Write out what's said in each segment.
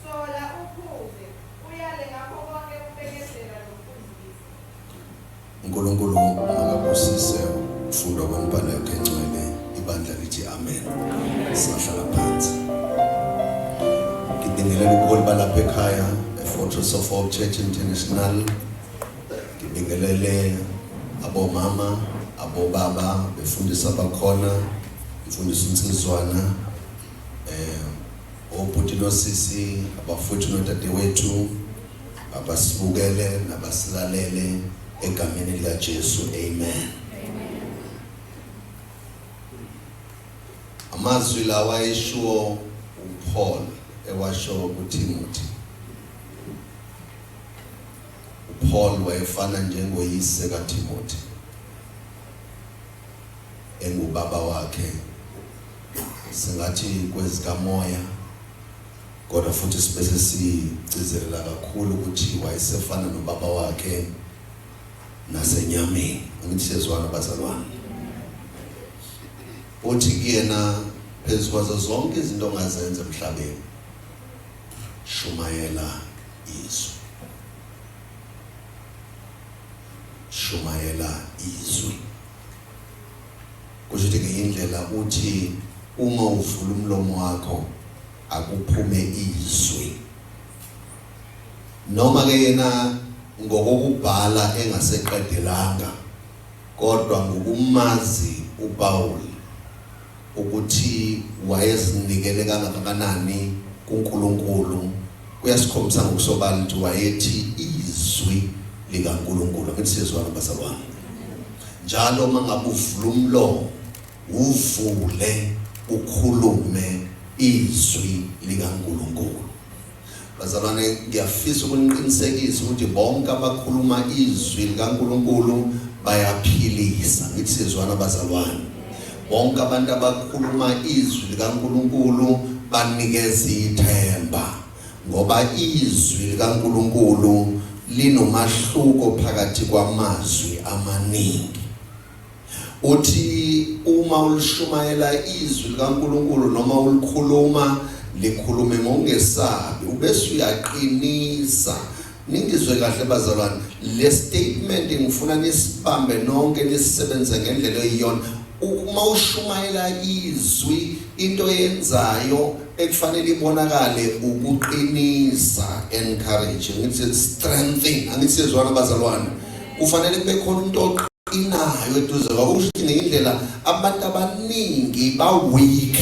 Sola uphuze, uyale ngakho konke ukubekezela nokufundisa. UNkulunkulu makabusise ukufundwa kwemibhalo yakhe engcwele. Ibandla lithi amen. Singahlala phansi. Ngibingelela ubuholi balapha ekhaya eFortress of Hope Church International. Ngibingelele abomama, abobaba befundisa abakhona, mfundisi uNsizwana eh Obhuti nosisi, abafowethu nodadewethu abasibukele nabasilalele egameni likaJesu. Amen. Amazwi lawa eshiwo uPaul ewasho kuThimothi. uPaul wayefana njengoyise kaThimothi. engubaba wakhe singathi kwezikamoya kodwa futhi sibe sesigcizelela kakhulu ukuthi wayesefana nobaba wakhe nasenyameni angithi sezwana bazalwane uthi kuyena phezu kwazo zonke izinto ongazenza emhlabeni shumayela izwi Shumayela izwi. Kusho ukuthi ngenye indlela uthi uma uvula umlomo wakho akuphume izwi. Noma ke yena ngokokubhala engaseqedelanga kodwa ngokumazi uPawulu Ukuthi wayezinikele kangakanani kuNkulunkulu kuyasikhombisa ngokusobala ukuthi wayethi izwi likaNkulunkulu. Angithi siyezwana bazalwane? Njalo uma ngabe uvula umlomo uvule ukhulume izwi likaNkulunkulu. Bazalwane, ngiyafisa ukuniqinisekisa ukuthi bonke abakhuluma izwi likaNkulunkulu bayaphilisa. Ngithi sizwana bazalwane. Bonke abantu abakhuluma izwi likaNkulunkulu banikeza ithemba ngoba izwi likaNkulunkulu linomahluko phakathi kwamazwi amaningi. Uthi uma ulishumayela izwi likaNkulunkulu noma ulikhuluma likhulume ngokungesabi ubese uyaqinisa ningizwe kahle bazalwane le statement ngifuna nisibambe nonke nisisebenze ngendlela eyiyona uma ushumayela izwi into yenzayo ekufanele ibonakale ukuqinisa encourage ngithi strengthening angisizwana bazalwane kufanele kube khona umuntu oqinayo eduze kwabo kusho ukuthi ngendlela abantu abaningi ba-weak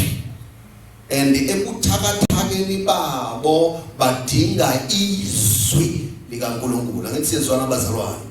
and ebuthakathakeni babo badinga izwi likankulunkulu angithi siyezwana abazalwane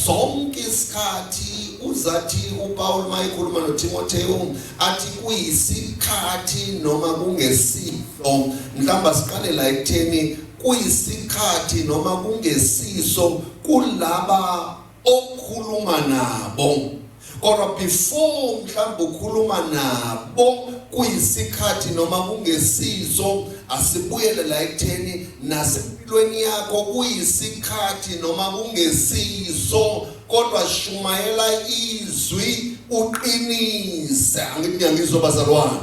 sonke isikhathi uzathi upawulu uma ekhuluma nothimothewu athi kuyisikhathi noma kungesifo mhlawumbe asiqale la ekutheni kuyisikhathi noma kungesiso kulaba okhuluma nabo kodwa before mhlawumbe ukhuluma nabo kuyisikhathi noma kungesiso asibuyele la ekutheni nasempilweni yakho kuyisikhathi noma kungesiso kodwa shumayela izwi uqinise angithi ngiyangizwa bazalwane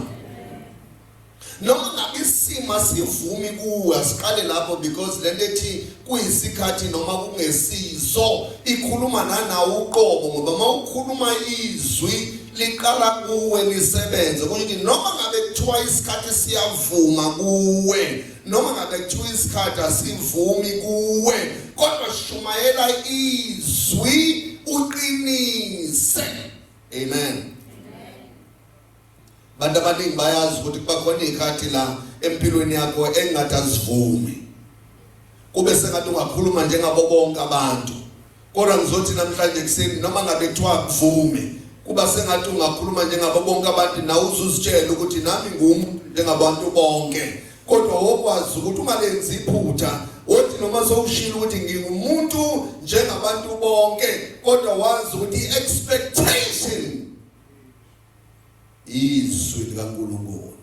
Noma ngabe isimo asivumi kuwe asiqale lapho because lento ethi kuyisikhathi noma kungesizo ikhuluma nanawo uqobo ngoba mawukhuluma izwi liqala kuwe lisebenze kusho ukuthi noma ngabe kuthiwa isikhathi siyavuma kuwe noma ngabe kuthiwa isikhathi asivumi kuwe kodwa shumayela izwi uqinise amen Abantu abaningi bayazi ukuthi kuba khona izikhathi la empilweni yakho engathi azivumi. Kube sengathi ungakhuluma njengabo bonke abantu. Kodwa ngizothi namhlanje kuseni noma ngabe kuthiwa kuvume kuba sengathi ungakhuluma njengabo bonke abantu nawe uzuzitshela ukuthi nami ngumuntu njengabantu bonke. Kodwa wokwazi ukuthi ungalenzi iphutha othi noma sowushilo ukuthi ngingumuntu njengabantu bonke kodwa wazi ukuthi i-expectation izwi likaNkulunkulu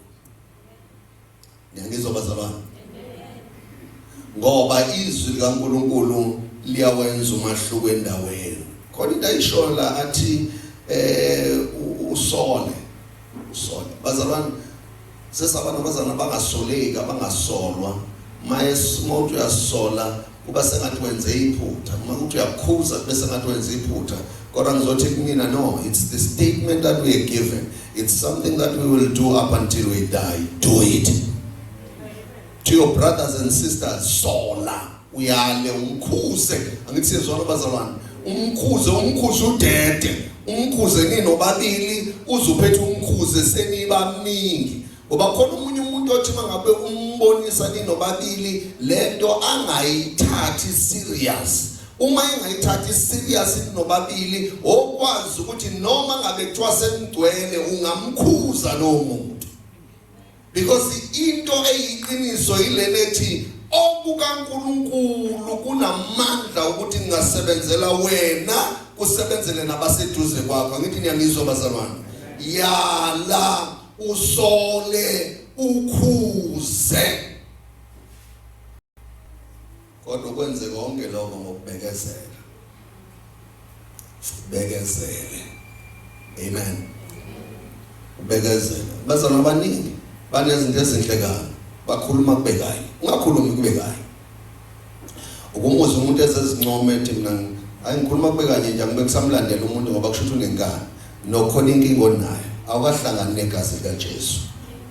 ngiyangizwa bazalwane ngoba izwi likaNkulunkulu liyawenza umahluko endaweni khona into ayishoyo la athi eh usole usole bazalwane Sesaba nabazana abangasoleki abangasolwa uma umuntu uyasola kuba sengathi wenze iphutha uma ukuthi uyakhuza kube sengathi wenze iphutha kodwa ngizothi kumina no it's the statement that we are given it's something that we will do up until we die do it to your brothers and sisters sola uyale umkhuze angithi siyezwana bazalwane umkhuze umkhuze udede umkhuze ninobabili uzuphethe umkhuze senibaningi ngoba khona umunye umuntu othi mangabe umbonisa ninobabili lento angayithathi serious uma engayithathi serious ninobabili okwazi ukuthi noma ngabe kuthiwa senigcwele ungamkhuza lowo muntu Because into eyiqiniso yilena ethi okukaNkulunkulu kunamandla ukuthi ngingasebenzela wena kusebenzele nabaseduze kwakho ngithi niyangizwa bazalwane yala usole ukhuze Kodwa ukwenze konke lokho ngokubekezela. Sibekezele. Amen. Ubekezela. Bazalwa abaningi banezinto ezinhle kabi. Bakhuluma kube kahle. Ungakhulumi kube kahle. Ukumuza umuntu ezezincome ethi mina hayi ngikhuluma kube kanye nje angibeke samlandela umuntu ngoba kusho ukuthi unenkani. Nokhona inkinga onayo. Awukahlangani negazi likaJesu.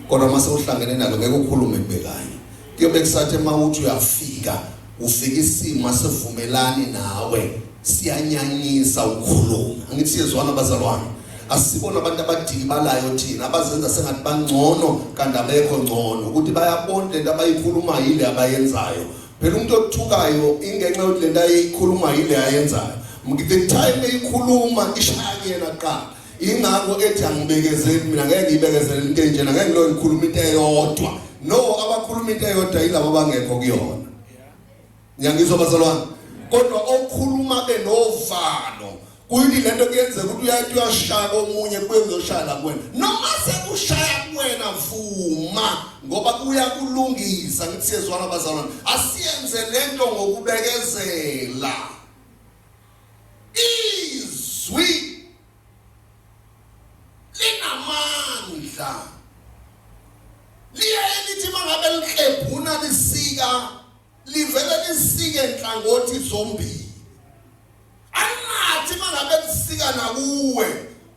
Kodwa uma sewuhlangene nalo ngeke ukhulume kube kanye. Kuyobe kusathi mawuthi uyafika ufika isimo asivumelani nawe siyanyanyisa ukukhuluma angithi siyezwana bazalwane asibona abantu abadikibalayo thina abazenza sengathi bangcono kanti abekho ngcono ukuthi bayabona lento abayikhulumayo ile abayenzayo phela umuntu othukayo ingenxa yokuthi lento ayikhuluma ile ayenzayo ngithe time eyikhuluma ishaya yena qala ingakho ethi angibekezeli mina ngeke ngibekezele into enjena ngeke ngilo ngikhuluma into eyodwa no abakhuluma into eyodwa yilabo abangekho kuyona ngiyangizwa bazalwane kodwa okhuluma benovalo kuyini lento kuyenzeka ukuthi uyathi uyashaya komunye kuye kuzoshaya la kuwena noma sekushaya kuwena vuma ngoba kuyakulungisa ngithi siyezwana bazalwane asiyenze lento ngokubekezela Izwi linamandla liye lithi mangabe liklebhuna lisika livele lisike nhlangothi zombili angathi mangabe lisika nakuwe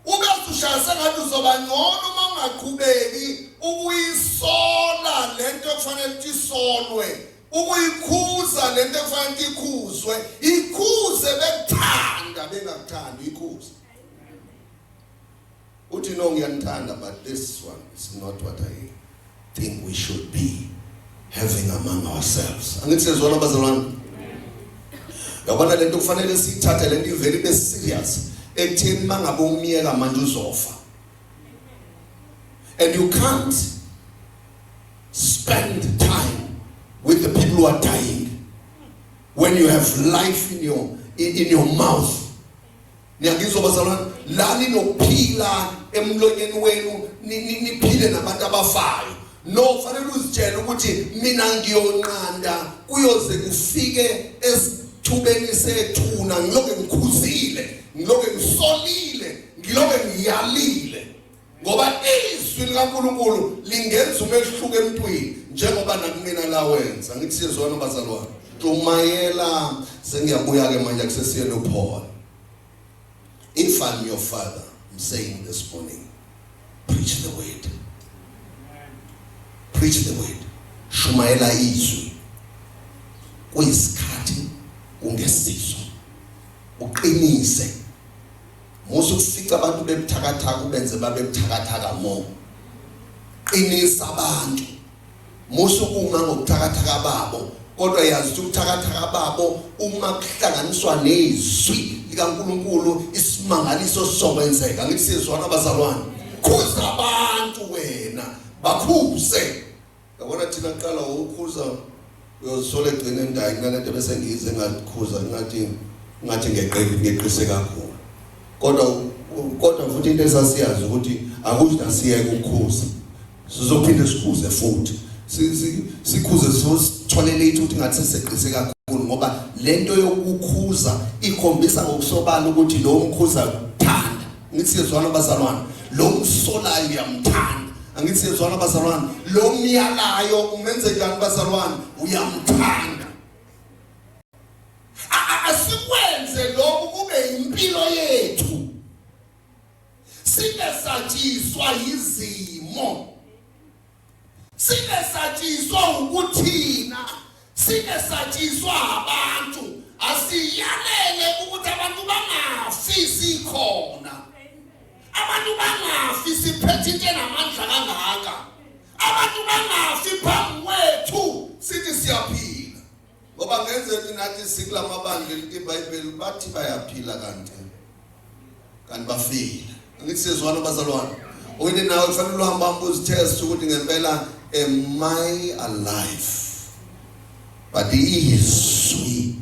ube usushaya sengathi uzoba ngcono uma ungaqhubeki ukuyisola lento ekufanele ukuthi isolwe ukuyikhuza lento ekufanele ikhuzwe ikhuze bekuthanda bengakuthandi ikhuze uthi no ngiyanithanda but this one is not what i think we should be having among ourselves angithi sezwana bazalwane yabona lento kufanele siyithathe lento ivele ibe serious ekutheni mangabe umyeka manje uzofa and you can't Spend time with the people who are dying. When you have life in your in, in your mouth. Niyangizwa bazalwane, la ninokuphila emlonyeni wenu niphile nabantu abafayo. No, fanele uzitshele ukuthi mina ngiyonqanda kuyoze kufike esithubeni sethuna ngiloke ngikhuzile, ngiloke ngisolile, ngiloke ngiyalile. ngoba izwi likaNkulunkulu lingenza umehluko emntwini njengoba nakumina lawenza ngithi siyezwana bazalwane tumayela sengiyabuya ke manje kusesiyelo Paul if i'm your father i'm saying this morning preach the word preach the word shumayela izwi kuyisikhathi ungesizo uqinise Musa ukufica abantu bebuthakathaka ubenze babe buthakathaka more. Qinisa abantu. Musa ukuma ngokuthakathaka babo kodwa yazi ukuthi ubuthakathaka babo uma kuhlanganiswa nezwi likaNkuluNkulu isimangaliso sokwenzeka. Ngisizwana abazalwane. Khuza abantu wena, bakhuze. Yabona thina kuqala ukukhuza uyozisola egcine ndayi kunalento bese ngize ngakhuza ngathi ngathi ngeqile ngeqise kakhulu kodwa kodwa futhi into esasiyazi ukuthi akusho asiyeke ukukhuza sizophinde sikhuze futhi sikhuze sithole late ukuthi ngathi seseqise kakhulu ngoba lento yokukhuza ikhombisa ngokusobala ukuthi lo mkhuza Ngithi siyezwana bazalwane, lo msolayo uyamthanda. Angithi siyezwana bazalwane, lo myalayo umenze njani bazalwane? Uyamthanda. Asikwenze lokhu kube impilo yethu. Singesatshiswa yizimo. Sibesatshiswa ukuthina, sibesatshiswa abantu, asiyalele ukuthi abantu bangafi sikhona. Abantu bangafi siphethe into enamandla kangaka. Abantu bangafi phambi kwethu sithi siyaphila. ngoba ngenzeki nathi sikulamabandla elithi iBhayibheli bathi bayaphila kanti kanti bafile angithi sezwana bazalwane oyini nawe kufanele uhamba uzitest ukuthi ngempela am I alive but izwi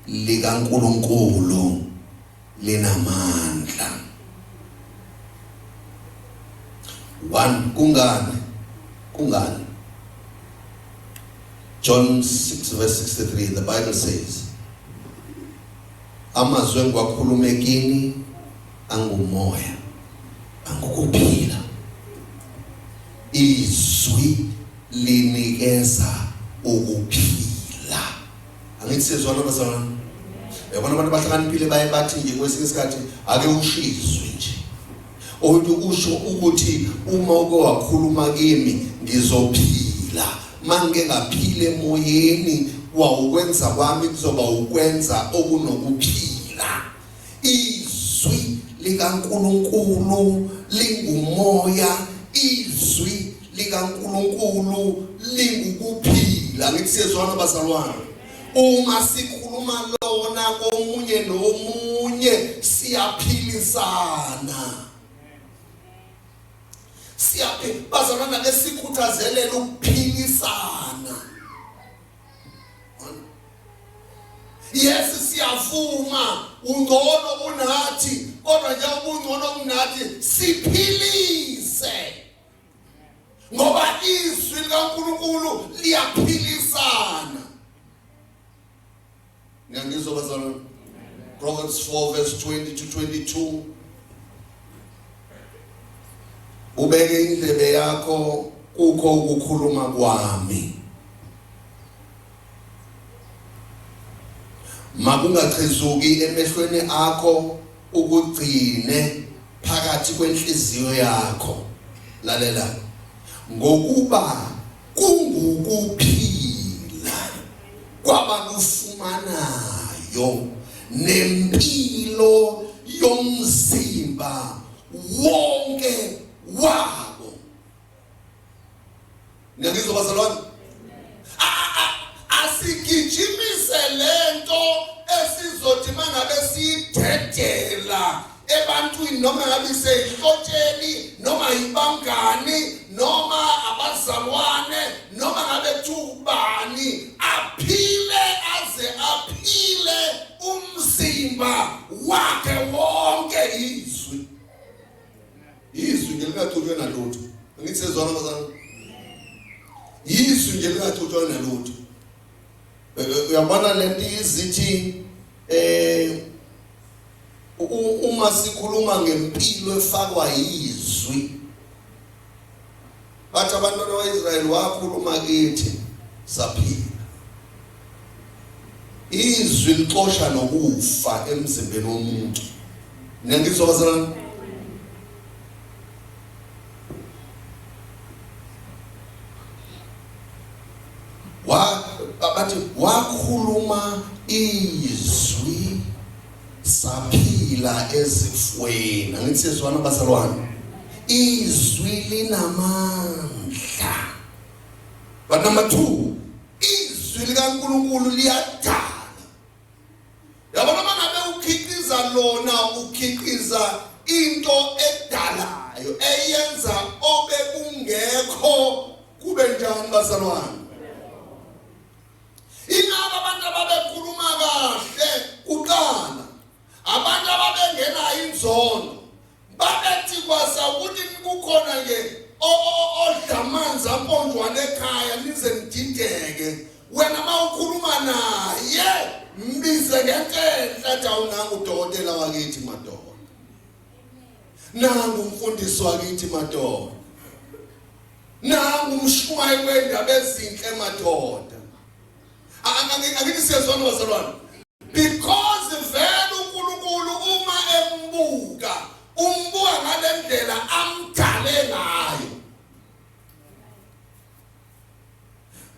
likaNkuluNkulu linamandla. One kungani? Kungani? John 6 verse 63 the Bible says amazwi engiwakhuluma ekini angumoya angukuphila izwi linikeza ukuphila angithi sezwana bazalwane yabona abantu abahlakaniphile baye bathi nje kwesinye isikhathi ake ushizwe nje omuntu usho ukuthi uma uke wakhuluma kimi ngizophila mangike ngaphile emoyeni wawukwenza kwami kuzoba ukwenza okunokuphila izwi likaNkulunkulu lingumoya izwi likaNkulunkulu lingukuphila ngithi siyezwana bazalwane uma sikhuluma lona komunye nomunye siyaphilisana siyaphi bazalwana lesikhuthazele ukuphilisana Yes siyavuma ungcono unathi kodwa nje ubungcono kunathi siphilise ngoba izwi likaNkulunkulu liyaphilisana ngiyangizwa bazalwane Proverbs 4 verse 20 to 22 ubeke indlebe yakho kukho ukukhuluma kwami makungachezuki emehlweni akho ukugcine phakathi kwenhliziyo yakho lalela ngokuba kungukuphila kwabalufumanayo nempilo yomzimba wonke wabo ngiyabizwa bazalwane asigijimise lento esizothi mangabe siyidedela ebantwini noma ngabe iseyihlotsheni noma yibangani noma abazalwane noma ngabe thubani aphile aze aphile umzimba wakhe wonke izwi izwi nje lingathutshwe nalutho angithi sezwana bazalwane izwi nje lingathutshwe nalutho uyabona lento izithi eh uma sikhuluma ngempilo efakwa yizwi bathi abantwana bakwa-israyeli wakhuluma kithi saphila izwi lixosha nokufa emzimbeni womuntu niyangizwa bazalwane bathi wakhuluma izwi saphila ezifweni angithi sezwana bazalwane izwi linamandla but number 2 izwi likaNkuluNkulu liyadala yabo noma ngabe ukhiqiza lona ukhiqiza into edalayo eyenza obekungekho kube njani bazalwane ingaba abantu ababekhuluma kahle kuqala abantu ababengenayo inzondo Babethi kwasa ukuthi kukhona ke odla amanzi aponjwa lekhaya nize nidideke. Wena mawukhuluma naye mbize ngenhla jawu nangu udokotela wakithi madoda. Nangu umfundisi wakithi madoda. Nangu umshumayeli wendaba ezinhle madoda. Angeke siyezwana bazalwane. Because vele uNkulunkulu uma embuka umbuka ngalendlela amdale ngayo.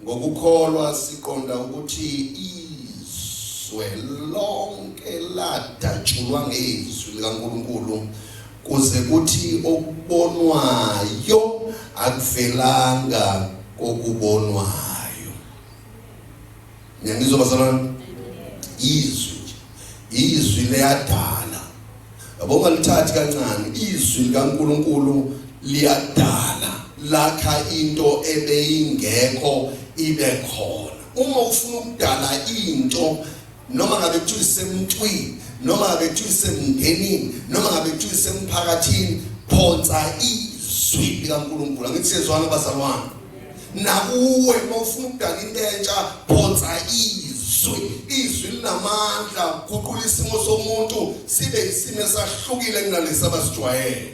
Ngokukholwa siqonda ukuthi izwe lonke ladatshulwa ngezwi likaNkulunkulu kuze kuthi okubonwayo akuvelanga kokubonwayo Ngiyangizwa bazalwane. Izwi nje. Izwi liyadala. Yabo ngalithathi kancane izwi likaNkuluNkulu liyadala lakha into ebeyingekho ibe khona. Uma ufuna ukudala into noma ngabe kuthiwa isemntwini noma ngabe kuthiwa isemndenini noma ngabe kuthiwa isemphakathini phonsa izwi likaNkulunkulu angithi siyezwana bazalwane nakuwe uma ufuna ukudala into entsha phonsa izwi izwi linamandla ukuguqula isimo somuntu sibe isimo esahlukile kunalesi abasijwayele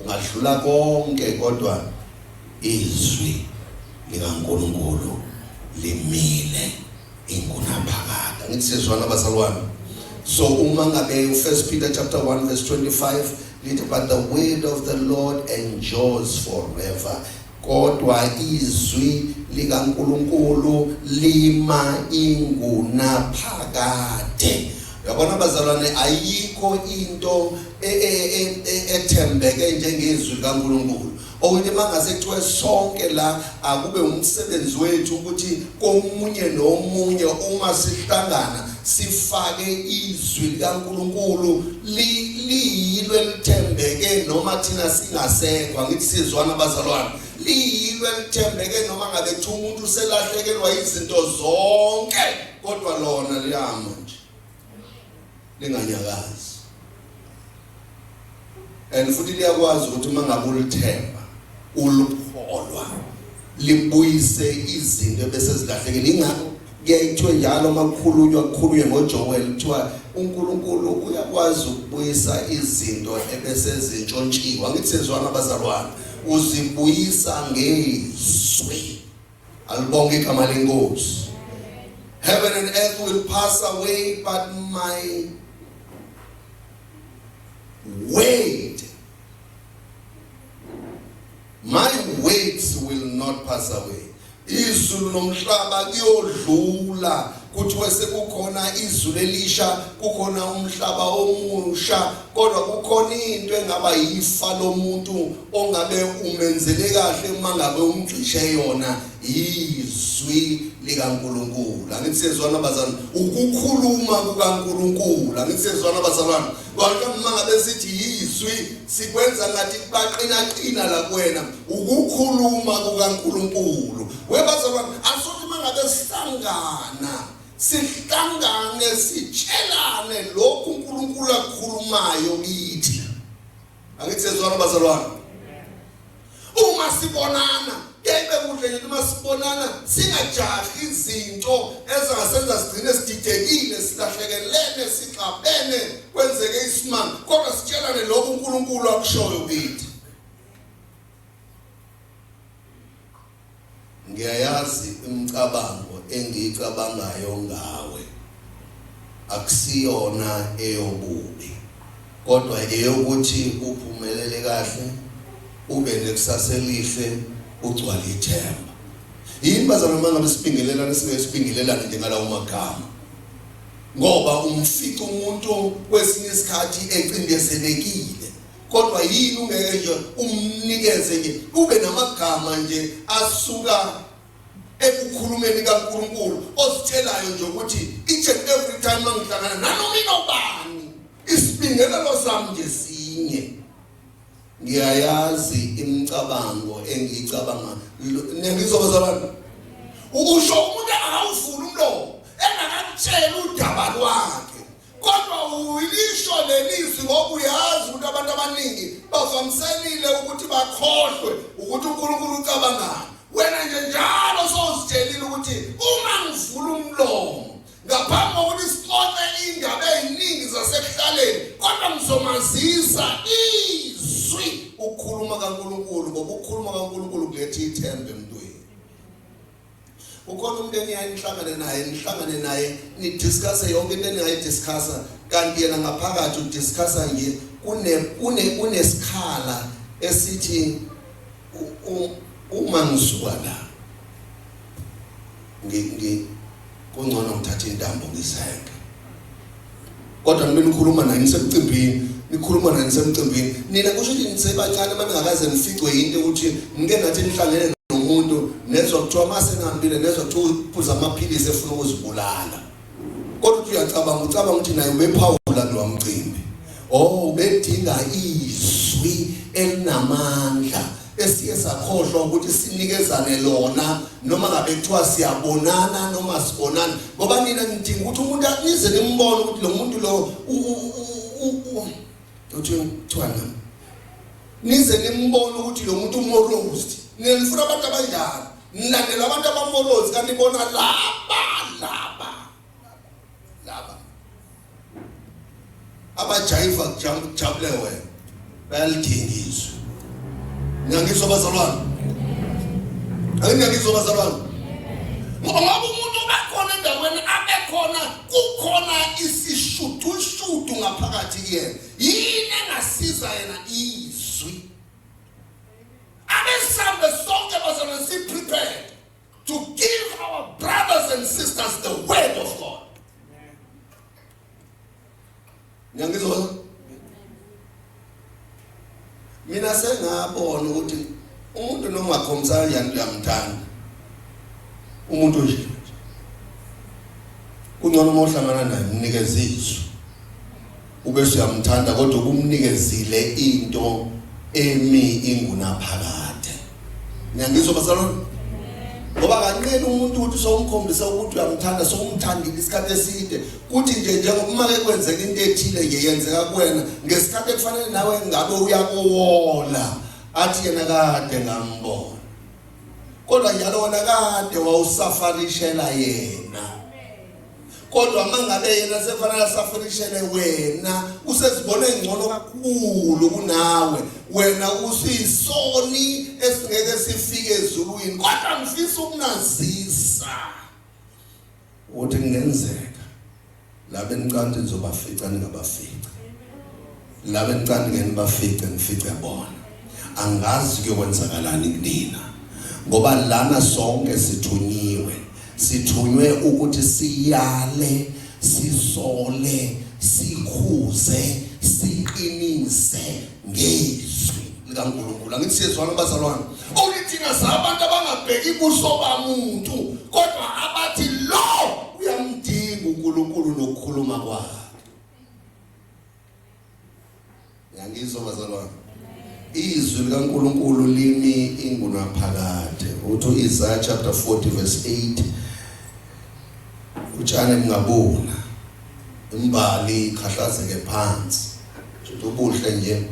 Ungadlula konke kodwa izwi likaNkulunkulu limile ingunaphakade. Angithi siyezwana bazalwane. So uma ngabe uFirst Peter chapter 1 verse 25 lithi but the word of the Lord endures forever. Kodwa izwi likaNkulunkulu lima ingunaphakade. Yabona bazalwane ayikho into e, e, e, ethembeke njengezwi likaNkulunkulu. Okuthi mangase kuthiwe sonke la akube umsebenzi wethu ukuthi komunye nomunye uma sihlangana sifake izwi likaNkulunkulu liyilo elithembeke noma thina singasekho angithi sizwana bazalwane liyilo elithembeke noma ngabe kuthiwa umuntu uselahlekelwa izinto zonke kodwa lona liyama nje linganyakazi and futhi liyakwazi ukuthi uma ngabe ulithemba ulukholwa libuyise izinto ebese zilahlekile ingakho kuyayithiwe njalo uma kukhulunywa kukhulunywe ngoJoel kuthiwa uNkulunkulu uyakwazi ukubuyisa izinto ebese zintshontshiwe angithi sezwana abazalwane uzibuyisa ngezwi Alibonge igama lenkosi. Heaven and earth will pass away but my word my words will not pass away. Izulu nomhlaba kuyodlula kuthiwe sekukhona izulu elisha kukhona umhlaba omusha kodwa kukhona into engaba yifa lomuntu ongabe umenzele kahle uma ngabe umgxishe yona yizwi likaNkuluNkulu angithi sezwana bazalwane ukukhuluma kukaNkuluNkulu angithi sezwana bazalwane Kodwa uma ngabe sithi yizwi sikwenza ngathi baqinaqina la kuwena ukukhuluma kukaNkuluNkulu. Webazalwane asuthi uma ngabe sihlangana sihlangane sitshelane lokhu uNkulunkulu akukhulumayo kithi angithi sezwana bazalwane uma sibonana kebe kuhle nje uma sibonana singajahi izinto ezingasenza sigcine sididekile silahlekelene sixabene kwenzeke isimanga kodwa sitshelane lokho uNkulunkulu akushoyo kithi Ngiyayazi imicabango engiyicabangayo ngawe, akusiyona eyobubi, kodwa eyokuthi uphumelele kahle, ube nekusasa elihle, ugcwale ithemba. Yini bazalwane uma ngabe sibingelelana singeke sibingelelane nje ngalawo magama? Ngoba umfica umuntu kwesinye isikhathi ecindezelekile kodwa yini ungeke nje umnikeze nje ube namagama nje asuka ekukhulumeni kaNkuluNkulu ositshelayo nje ukuthi each and every time mangihlangana nanoma inobani isibingelelo sami nje sinye ngiyayazi imicabango engiyicabanga nengizoba zabantu ukusho umuntu akawuvula umlomo engakakutshela udaba lwakhe Kodwa ulisho lelizwi ngoba uyazi ukuthi abantu abaningi bavamiselile ukuthi bakhohlwe ukuthi uNkulunkulu ucabangani. Wena nje njalo sozitshelile ukuthi uma ngivula umlomo ngaphambi kokuthi sixoxe indaba eziningi zasekuhlaleni kodwa ngizomazisa izwi ukukhuluma kaNkuluNkulu ngoba ukukhuluma kaNkuluNkulu kuletha ithemba emntwini. Ukhona umuntu eniyaye nihlangane naye nihlangane naye nidiscusse yonke into eningayidiscussa kanti yena ngaphakathi udiscussa nje kune kune kunesikhala esithi uma ngisuka la ngi kungcono ngithathe intambo ngizenke kodwa ngibe nikhuluma naye nisemcimbini nikhuluma naye nisemcimbini nina kusho ukuthi nisebancane uma ningakaze nificwe yinto ukuthi ngike nathi nihlangene nomuntu nezwa kuthiwa uma senihambile nezwa kuthiwa uphuza amaphilisi efuna ukuzibulala kodwa uthi uyacabanga ucabanga ukuthi naye ubephawula lowa mcimbi o oh, ubedinga izwi elinamandla esiye sakhohlwa ukuthi sinikezane lona noma ngabe kuthiwa siyabonana noma sibonana ngoba nina nidinga ukuthi umuntu anize nimbone ukuthi lo muntu lo uthi kuthiwa nami nize nimbone ukuthi lo muntu umorozi nina nifuna abantu abanjalo nilandela abantu abamorozi kanti bona laba laba laba abajayiva kujabule wena bayalidingizwa ngiyangizwa abazalwane angiyangizwa abazalwane ngoba umuntu ubekhona endaweni abekhona kukhona isishudushudu ngaphakathi kuyena yini engasiza yena izwi abesambe sonke bazalwane siprepare to give our brothers and sisters the word of God. Ngiyangizwa? Mina sengabona ukuthi umuntu noma akhombisana yani uyamthanda. Umuntu nje. Kungcono uma uhlangana naye unikeza izwi. Ubese uyamthanda kodwa ubumnikezile into emi ingunaphakade. Ngiyangizwa bazalwane. Ngoba kanqeni umuntu ukuthi sowumkhombisa ukuthi uyamthanda sowumthandile isikhathi eside kuthi nje njengoba ke kwenzeka into ethile nje yenzeka kuwena ngesikhathi ekufanele nawe ngabe uyakuwola athi yena kade ngambona kodwa njalo wona kade wawusafarishela yena kodwa mangabe yena sefanele asafunishele wena usezibona engcono kakhulu kunawe wena usisoni esingeke sifike ezulwini kodwa ngifisa ukunazisa ukuthi kungenzeka labe nicanti nizobafica ningabafica Ngabe ngicane ngeke nibafice ngifice bona. Angazi kuyokwenzakalani kunina. Ngoba lana sonke sithunyiwe. Sithunywe ukuthi siyale, sisole, sikhuze, siqinise ngezwi likaNkulunkulu. Angithi siyezwana bazalwane. Okithina sabantu abangabheki kuso bamuntu kodwa abathi lo uyamdinga uNkulunkulu nokukhuluma kwakhe. Ngangizwa bazalwane. Izwi likaNkuluNkulu limi ingunaphakade. Uthu Isaiah chapter 40 verse 8 utshani mngabona imbali khahlazeke phansi. Futhi ubuhle nje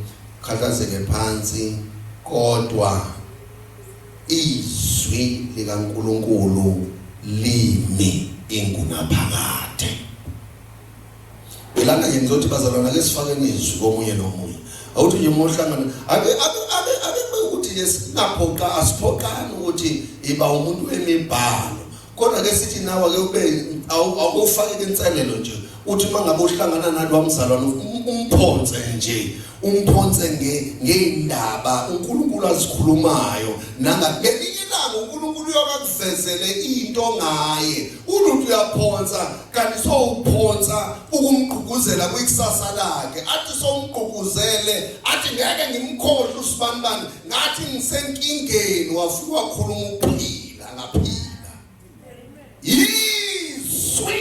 khahlazeke phansi kodwa izwi likaNkuluNkulu limi ingunaphakade. Belana nje ngizothi bazalwana ke sifake nezwi komunye nomunye. Awuthi nje uma uhlangana ake ake ake ake ukuthi ke singaphoqa asiphoqani ukuthi iba umuntu wemibhalo. Kodwa ke sithi nawe ake ube awufake inselelo nje. Uthi uma ngabe uhlangana nalwa mzalwane umphonse nje umphonse ngey'ndaba unkulunkulu azikhulumayo nangakelinye ilanga unkulunkulu uyokakuvezele into ngaye uluntu uyaphonsa kanti sowuphonsa ukumgquguzela kwikusasa lakhe athi somgquguzele athi ngeke ngimkhohle usibanibani ngathi ngisenkingeni wafika wakhuluma ukuphila ngaphila yizwi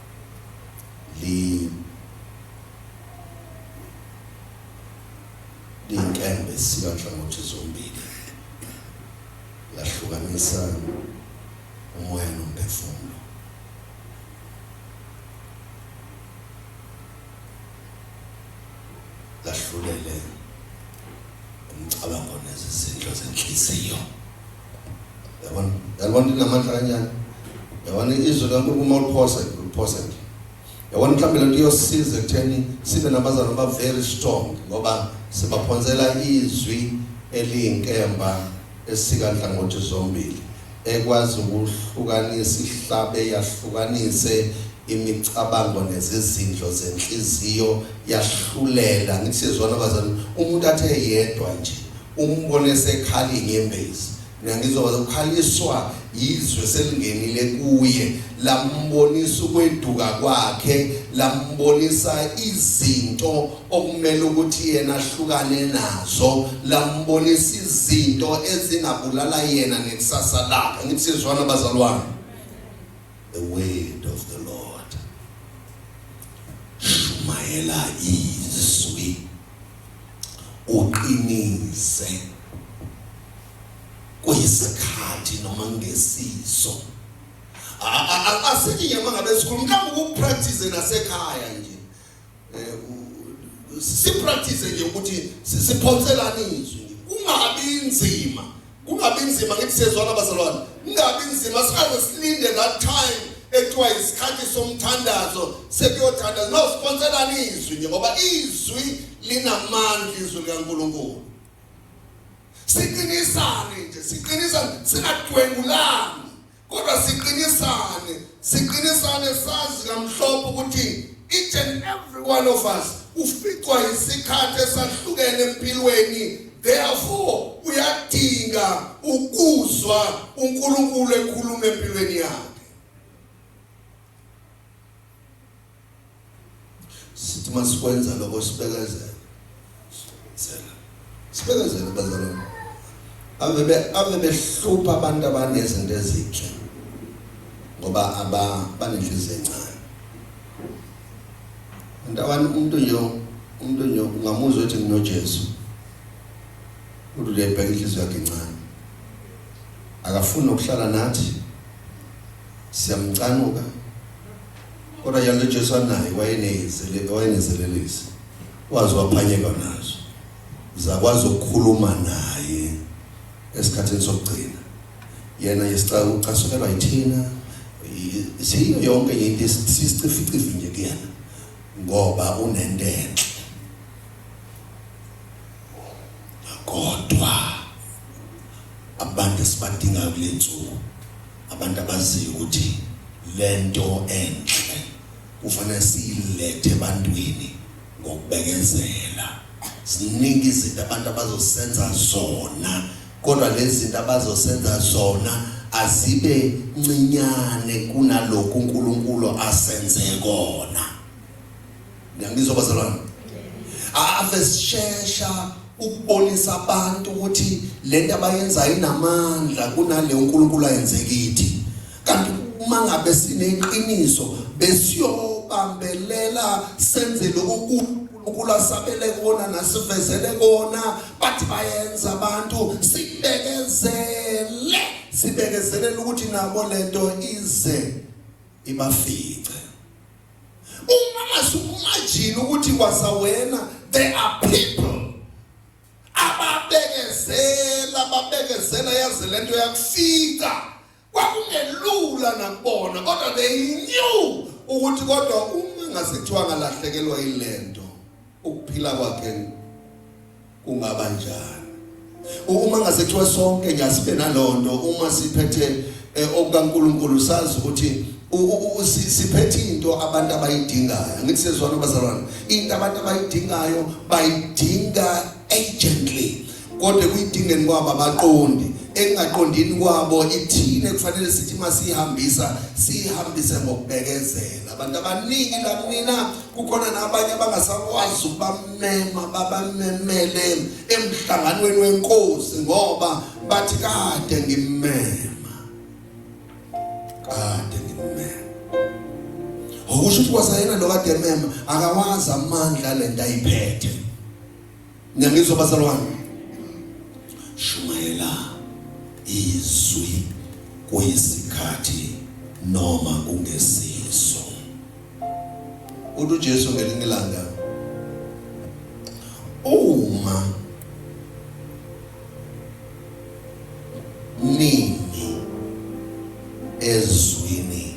liyinkembe sibanhlangothi zombili lahlukanisa umoya nomphefumulo lahlulele umcabango nezizindlo zenhliziyo yabona yabona inamandla kanjani yabona izwi likaNkulunkulu uma uliphosa uliphosa nje yabona mhlawumbe lento iyosiza ekutheni sibe nabazalwa aba very strong ngoba sibaphonsela izwi eliyinkemba esika nhlangothi zombili ekwazi ukuhlukanisa ihlabe yahlukanise imicabango nezizindlo zenhliziyo yahlulela ngisizona abazali umuntu athe yedwa nje Umbone esekhala inyembezi. Mina ngizoba ukhaliswa yizwe selingenile kuye lambonisa ukweduka kwakhe lambonisa izinto okumele ukuthi yena ahlukane nazo lambonisa izinto ezingabulala yena nekusasa lakhe ngithi sizwana bazalwane the word of the lord shumayela izwi uqinise kuyisikhathi noma ngesiso asithi nje mangabe sikhuluma mhlawumbe ukupractice nasekhaya nje eh, sipractice nje ukuthi siphonselane izwi kungabi inzima kungabi nzima ngithi sezwana bazalwane kungabi nzima singaze silinde that time ekuthiwa isikhathi somthandazo sekuyothandaza nosiponselani izwi nje ngoba izwi linamandla izwi likaNkulunkulu siqinisane nje siqinisane singadwengulani Kodwa siqinisane, siqinisane sazi kamhlophe ukuthi each and every one of us uficwa isikhathi esahlukene empilweni therefore uyadinga ukuzwa uNkulunkulu ekhuluma empilweni yakhe sithi masikwenza lokho sibekezela sela sibekezela bazalwane ave be ave behlupha abantu abanezinto ezinhle ngoba aba banenhliziyo encane abantu abantu umuntu nje umuntu nje ungamuzwa ukuthi nginoJesu uthi lebheka inhliziyo yakhe encane akafuni ukuhlala nathi siyamcanuka Kodwa yalo Jesu anaye wayenezele wayenezelelisi. Wazi waphanyeka nazo. Zakwazi ukukhuluma naye esikhathini sokugcina. Yena yesicaka ucasukelwa yithina. Siyo yonke into esisicifici nje kuyena ngoba unento enhle. Kodwa abantu esibadingayo kulenzuko Abantu abaziyo ukuthi lento enhle kufanele siyilethe ebantwini ngokubekezela. Ziningi izinto abantu abazosenza zona kodwa lezi zinto abazosenza zona azibe ncinyane kunalokhu uNkulunkulu asenze kona. Ngiyangizwa bazalwane. Ave sishesha ukubonisa abantu ukuthi lento abayenzayo inamandla kunale uNkulunkulu ayenze kithi. Kanti uma ngabe sineqiniso besiyobambelela senze lokhu ukula sabele kona nasivezele kona bathi bayenza abantu sibekezele sibekezelela ukuthi nabo lento ize ibafice Uma ngasumajini ukuthi kwasawena there are people ababekezela babekezela yaze lento yakufika kwakungelula nakubona kodwa they knew ukuthi kodwa uma ngasethiwa ngalahlekelwa ilento ukuphila kwakhe kungaba njani uma ngasethiwa sonke ngiyasibe nalonto uma siphethe eh, okukaNkuluNkulu sazi ukuthi siphethe into abantu abayidingayo ngithi sezwana bazalwane into abantu abayidingayo bayidinga agently kodwa kuyidingeni kwabo abaqondi engaqondini kwabo ithile kufanele sithi masihambisa sihambise ngokubekezela abantu abaningi la kunina kukhona nabanye abangasakwazi ukubamema babamemele emhlanganweni wenkosi ngoba bathi kade ngimema kade ngimema okusho ukuthi kwasayena lo kade emema akawazi amandla lento ayiphethe Niyangizwa bazalwane? Shumayela izwi kuyisikhathi noma kungesiso. Uthi uJesu ngelinye ilanga uma nini ezwini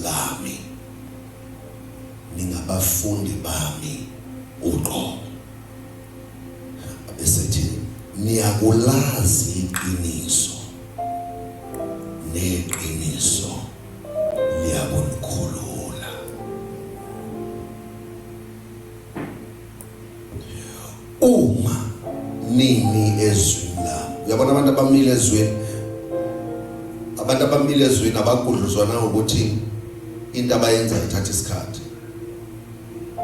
lami ningabafundi bami uqobo Esethi niyakulazi iqiniso neqiniso liyakunikhulula. Uma nini ezwini la uyabona abantu abamile ezweni abantu abamile ezweni abagudluzwana ukuthi into abayenza ithatha isikhathi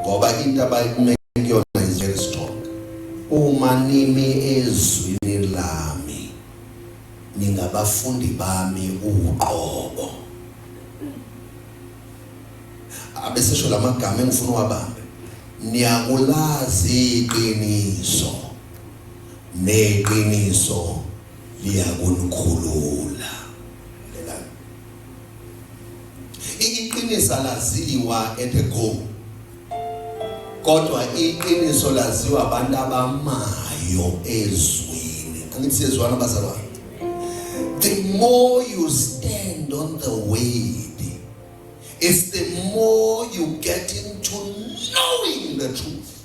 ngoba into abayime kuyona is very strong uma nimi ezwini lami ningabafundi bami uqobo abesesho lamagama engifuna uwabambe niyakulazi iqiniso neqiniso liyakunikhulula Iqiniso alaziwa at a go. Kodwa iqiniso laziwa abantu abamayo ezweni. Angithi siyezwana bazalwane. The more you stand on the word, it's the more you get into knowing the truth.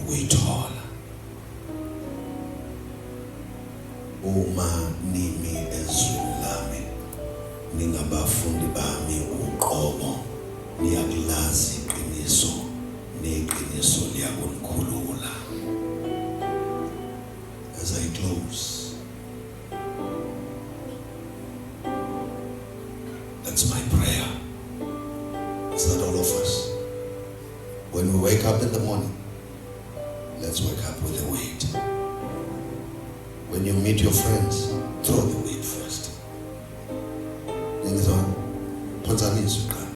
ukuyithola uma nimi ezweni lami ningabafundi bami uqobo niyakulazi iqiniso neqiniso liyakunikhulula as i close that's my prayer is that all of us When we wake up in the morning, let's wake up with a weight. When you meet your friends, throw the weight first. Ningizwa phonsanisa uqala.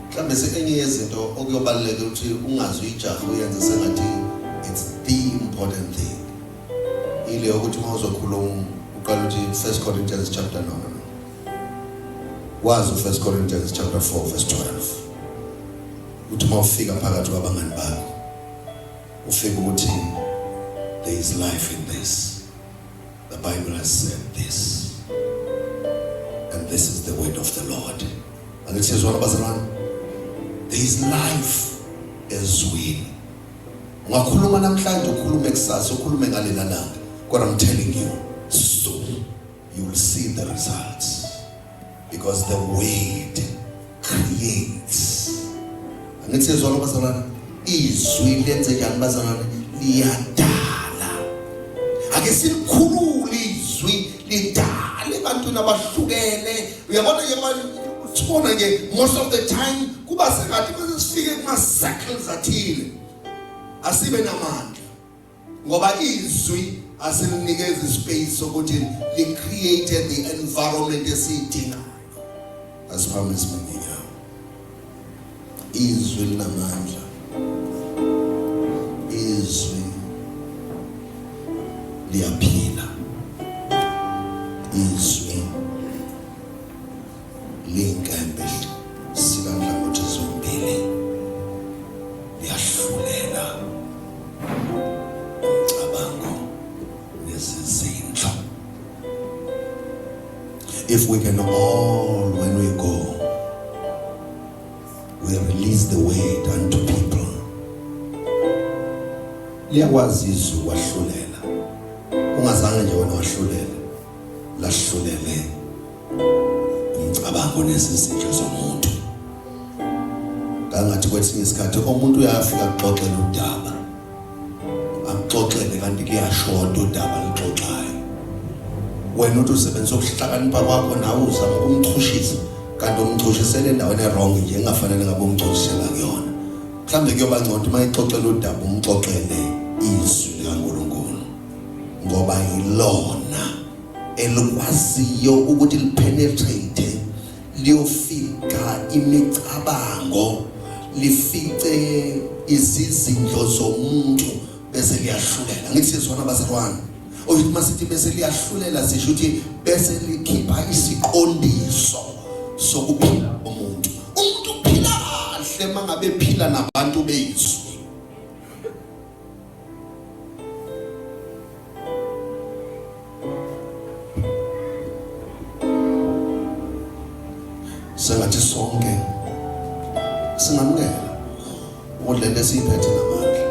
Mhlawumbe sengenye yezinto okuyobaluleka ukuthi ungazi uyijaha uyenze sengathi it's the important thing. Ile yokuthi uma uzokhuluma uqala ukuthi First Corinthians chapter number wazi u-1 Corinthians chapter 4 verse 12 ukuthi uma ufika phakathi kwabangani bakho ufika ukuthi there is life in this the bible has said this and this is the word of the lord angithezwana bazalwane there is life ezwini ungakhuluma namhlanje ukhulume kusasa ukhulume ngalena langa kodwa i'm telling you you will see the results because the word creates angithi sezwa lo bazalwane izwi lenze njani bazalwane liyadala ake silikhulule izwi lidale ebantwini abahlukene uyabona ke sibona ke most of the time kuba sengathi bese sifike kuma circles athile asibe namandla ngoba izwi asilinikeza ispace sokuthi li create the environment esiyidingayo asiphambe simenyanya izwi linamandla izwi liyaphila izwi Ley'nkembe zikanhlangothi zombili liyahlulela umcabango nezizindlo. If we can all, when we go, we release the weight unto people. Liyakwazi izulu wahlulela. Ungazange nje wena wahlulela. Lahlulele. umcabango nezizinto zomuntu kangathi kwesinye isikhathi umuntu uyafika kuxoxela udaba akuxoxele kanti kuyashoda udaba lixoxayo wena uthi usebenzisa ukuhlakanipha kwakho nawe uzama ukumchushisa kanti umchushisele endaweni erong nje engafanele ngabe umchushisela kuyona mhlawumbe kuyoba ngcono uma ixoxela udaba umxoxele izwi likankulunkulu ngoba yilona elikwaziyo ukuthi lipenetrate liyofika imicabango lifice izizindlo zomuntu bese liyahlulela ngithi sizwana bazalwane oyuthi masithi bese liyahlulela sisho ukuthi bese likhipha isiqondiso sokuphila komuntu umuntu uphila kahle mangabe phila nabantu bezwe sengathi sonke singamukela ukuthi lento esiyiphethe namandla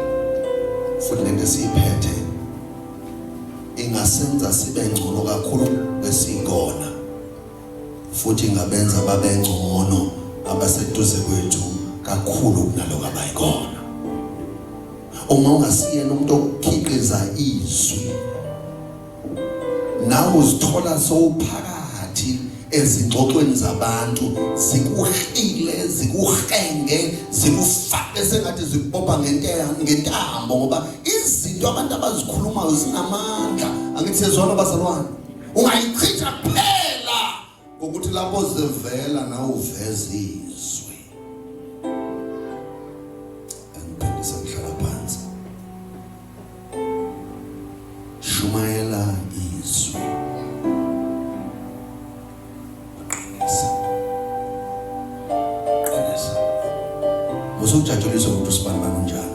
futhi lento esiyiphethe ingasenza sibe ngcono kakhulu besingona futhi ingabenza babengcono abaseduze kwethu kakhulu kunaloko abayikona uma ungasiyena umuntu okukhiqiza izwi nawe uzithola sowuphakathi ezingxoxweni zabantu zikuhile zikuhenge zikufake sengathi zikubopha ngentambo ngoba izinto abantu abazikhulumayo zinamandla angithi sezwana bazalwane ungayichitha kuphela ngokuthi lapho zivela nawe uveze izwi angiphindisa ngihlala phansi shumayela usukujatshuliswa ukuthi usibani bani unjani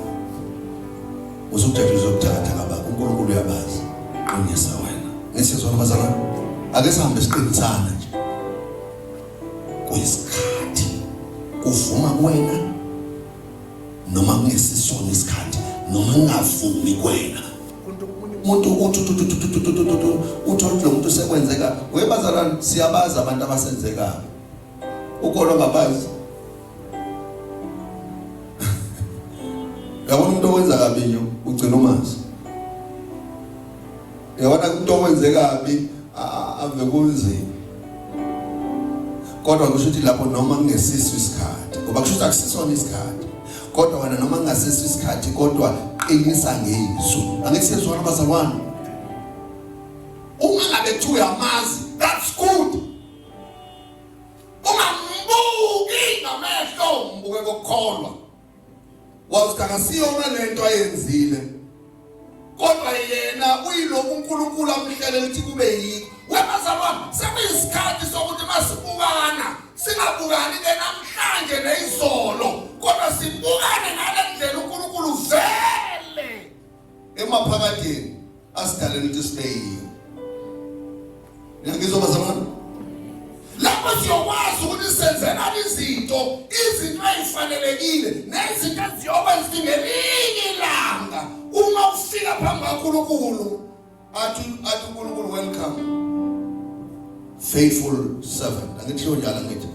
usukujatshuliswa ukuthakatha ngaba uNkulunkulu uyabazi qinisa wena ngisizwa abazalwane ake sihambe siqinisana nje kuyisikhathi kuvuma kuwena noma kungesisona isikhathi noma ngingavumi kwena umuntu uthi uthola lo muntu sekwenzeka webazalwane siyabazi abantu abasenzekayo ukolo ngabazi yabona umuntu owenza kabi nyo ugcina umazi Yabona umuntu owenze kabi ave kunzima. Kodwa kusho ukuthi lapho noma kungesiso isikhathi, ngoba kusho ukuthi akusisona isikhathi. Kodwa wena noma kungasiso isikhathi kodwa qinisa ngezwi. Angeke sizwana bazalwane. Uma ngabe kuthiwa uyamazi, that's good. Uma mbuki ngamehlo mbuke kokukholwa. wathi akasiyona lento ayenzile kodwa yena uyilokhu uNkulunkulu amhlele ukuthi kube yikho wemazalwane sekuyisikhathi sokuthi masibukana singabukani ke namhlanje nezolo kodwa sibukane ngalendlela uNkulunkulu vele emaphakadeni asidaleni ukuthi sibe yiyo ngiyangizwa bazalwane lapho siyokwazi ukuthi senzelani izinto izinto ezifanelekile nezinto eziyokwenza ngelinye ilanga uma ufika phambi kaNkulunkulu athi athi uNkulunkulu welcome faithful servant angithiyo njalo ngithi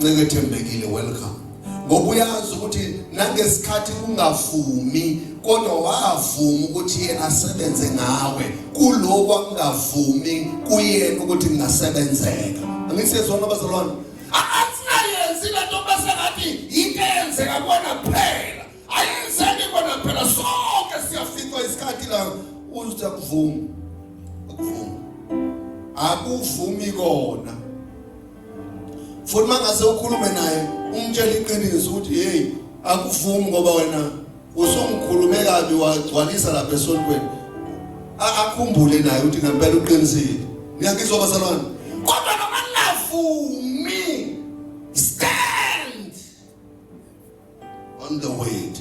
ncike thembekile welcome ngoba uyazi ukuthi nangesikhathi kungavumi kodwa wavuma ukuthi yena asebenze ngawe kuloko akungavumi kuyena ukuthi kungasebenzeka angisezona abazalwane asinayenzi lento bese ngathi into eyenzeka kuwena kuphela ayenzeki kona phela sonke siyafica isikhathi la uthi akuvumi akuvumi akuvumi kona futhi mangase ukhulume naye umtshela iqiniso ukuthi hey akuvumi ngoba wena usumkhulume kabi wagcwalisa lapha esontweni akhumbule naye ukuthi ngempela uqinisile ngiyakizwa bazalwane kodwa noma ningavumi on the word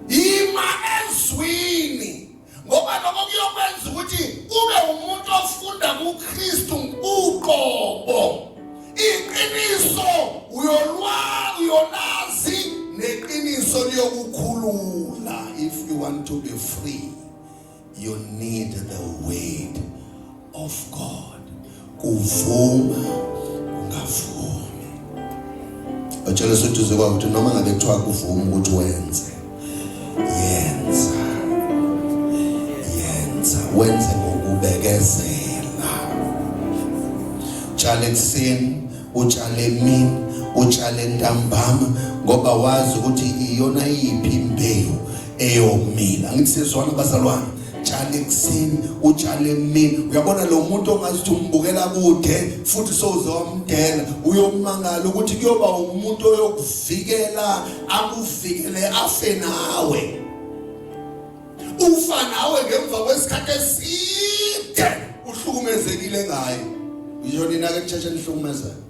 ima ezwini ngoba lokho kuyokwenza ukuthi ube umuntu ofunda kuKristu uqobo iqiniso uyolwa uyolazi neqiniso liyokukhulula if you want to be free You need the word of God. Kuvuma ungavumi. Batshela soduze kwa ukuthi noma ngabe kuthiwa kuvuma ukuthi wenze. Yenza. Yenza. Wenze ngokubekezela. Tshale ekuseni, utshale emini, utshale ntambama ngoba wazi ukuthi iyona yiphi imbewu eyomila angithi sezwana bazalwane tshale ekuseni utshale emini uyabona lo muntu ongazi ukuthi umbukela kude futhi soze wamdela uyomangala ukuthi kuyoba umuntu oyokuvikela akuvikele afe nawe ufa nawe ngemva kwesikhathi eside uhlukumezekile ngayo yiyona inake nitsheshe nihlukumezayo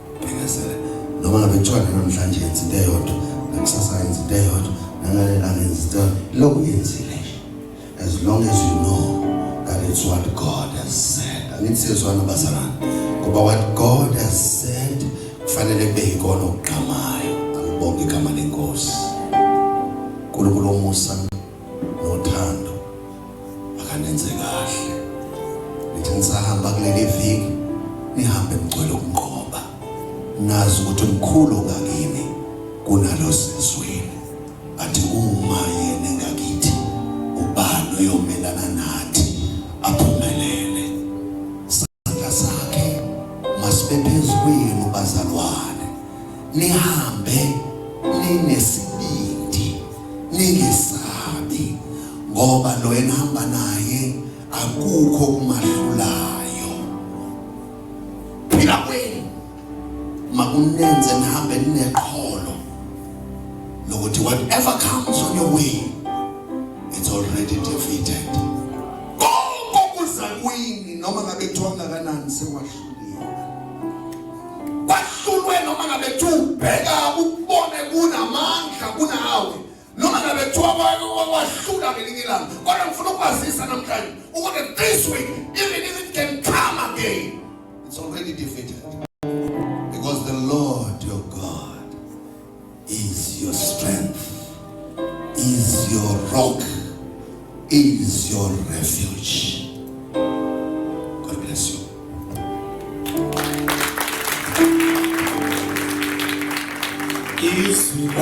Bhekesela noma ngabe kuthiwa namhlanje yenza into eyodwa nakusasa yenza into eyodwa nangalelanga yenza into eyodwa lokhu yenzile as long as you know that it's what God has said angithi siyezwana bazalwane ngoba what God has said kufanele kube yikona okugqamayo angibonge igama lenkosi uNkulunkulu omusa Nothando akanenze kahle. Nithi nisahamba kuleli viki nihambe mgcwele ukunqoba. Nazi ukuthi umkhulu ngakini kunalo sezweni. Athi uma yena ngakithi ubani oyomelana nathi aphumelele. Izandla zakhe masibe phezu kwenu bazalwane. Nihambe ninesibindi, ningesabi ngoba lo enihamba naye akukho kumahlulayo. Phila kwenu. makunenze nihambe nineqholo lokuthi whatever comes on your way it's already defeated konke okuza kwini noma ngabe kuthiwa ngakanani sewahluliwe kwahlulwe noma ngabe kuthiwa ubheka ukubone kunamandla kunawe noma ngabe kuthiwa wahlula ngelinye ilanga kodwa ngifuna ukwazisa namhlanje ukuthi this week even if it can come again it's already defeated because the lord your god is your strength is your rock is your refuge Isso.